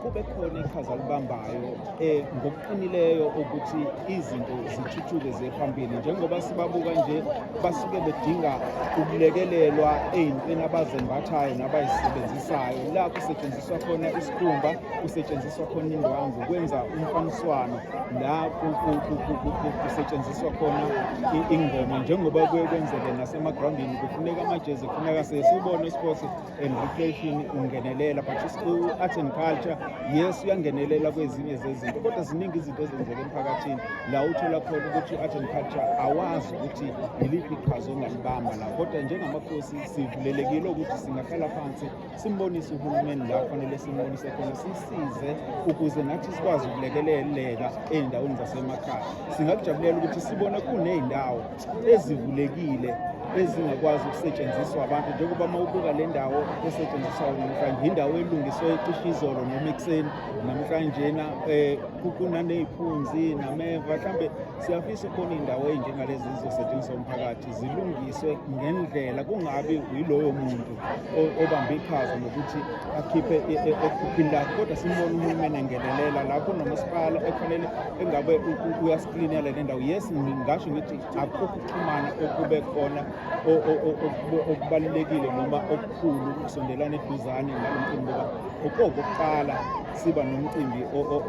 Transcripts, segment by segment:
kube khona iqhaza libambayo eh ngokuqinileyo ukuthi izinto zithuthuke zephambili njengoba sibabuka nje basuke bedinga ukulekelelwa eyintweni abazembathayo nabayisebenzisayo la kusetshenziswa khona isikhumba kusetshenziswa khona indwangu kwenza umfaniswano la kusetshenziswa khona ingoma njengoba kuye kwenzeke nasemagrawundini kufuneka amajezi kufuneka sesibone isports and recreation ungenelela but u-art and culture yes uyangenelela kwezinye zezinto kodwa ziningi izinto ezenzeka emphakathini la uthola khona ukuthi u-art and culture awazi ukuthi yiliphi iqhaza ongalibamba la kodwa njengamakhosi sivulelekile ukuthi singahlala phansi simbonise uhulumeni la kufanele simbonise khona sisize ukuze nathi sikwazi ukulekeleleka ey'ndaweni zasemakhaya singakujabulela ukuthi sibone kuney'ndawo ezivulekile ezingakwazi ukusetshenziswa abantu njengoba uma ubuka le ndawo esetshenziswa namhlanje yindawo elungiswe ecishe izolo noma ekuseni namhlanjena um kunaney'phunzi nameva mhlawumbe siyafisa ukubona iy'ndawo ey'njengalezi zizosetshenziswa umphakathi zilungiswe ngendlela kungabi yiloyo muntu obambe iqhaza ngokuthi akhiphe e, e, ekhuphini lakhe kodwa simbona uhulumeni engenelela lapho nomasipala ekufanele engabe uyasiklinela le ndawo yes ngasho ngithi akukho ukuxhumana okube khona okubalulekile noma okukhulu ukusondelana eduzane ngalo mcimbi ngoba okokuqala siba nomcimbi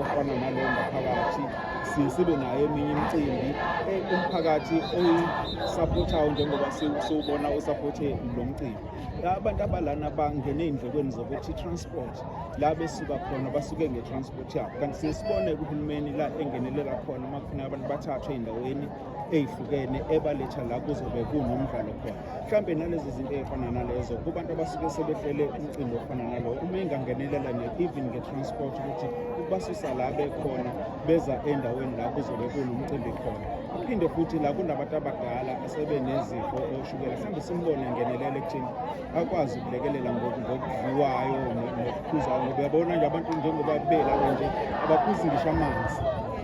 ofana nalowo ngaphakathi sibe nayo eminye imicimbi eh, umphakathi oyisapothayo njengoba siwubona usaphothe lo mcimbi abantu abalana bangene ey'ndlekweni zokuthi i-transport la besuka khona basuke nge-transport yabo kanti siyesibone kuhulumeni la engenelela khona uma kufuneka abantu bathathwe ey'ndaweni eyihlukene ebaletha la kuzobe kunomdlalo khona mhlawumbe nalezi zinto ey'fana nalezo kubantu abasuke sebehlele umcimbi ofana nalowo uma engangenelela ne-even nge-transport ukuthi ukubasusa la bekhona beza endaweni la kuzobe kunomcimbi khona kuphinde futhi la kunabantu abadala asebenezifo oshukela mhlawumbe simbone engenelela ekuthini akwazi ukulekelela ngokudliwayo nokuphuzayo ngoba uyabona nje abantu njengoba belapha nje abaphuzi ngisho amanzi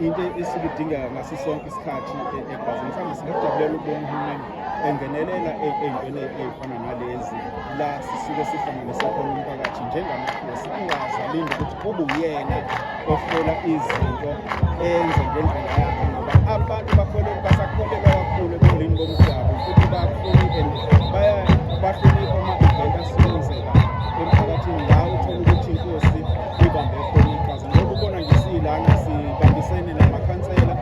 into esuke idingeka ngaso sonke isikhathi e-, egazini mhlawumbe singakujabulela ukubona uhulumeni engenelela e-, ey'ntweni ey'fana nalezi la sisuke sihlanganise khona umphakathi njengamakhosi angazalindi ukuthi kube uyena Bafuna izinto enze ngendlela yakhe ngoba abantu bakhona basakholelwa kakhulu ebulini bomdabu futhi bakhulu and baya bahlonipha ama-event asebenzeka emphakathini la uthole ukuthi inkosi ibambe khona iqhaza ngoba ubona nje siyilana sibambisene namakhansela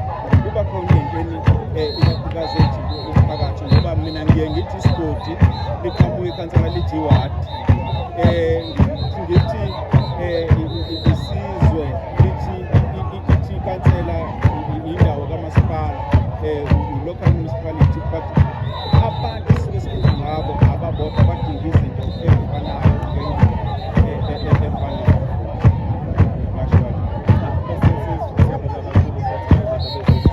kuba khona ey'ntweni eh, ikakhulukazi ejike umphakathi ngoba mina ngiye ngithi isigodi liqhamuka ikhansela lithi iwadi um eh, eh, isizwe lithi ithi ikansela indawo kamasipala eh, local municipality but abantu sike sikhulu ngabo ababodwa badinga izinto ezifanayo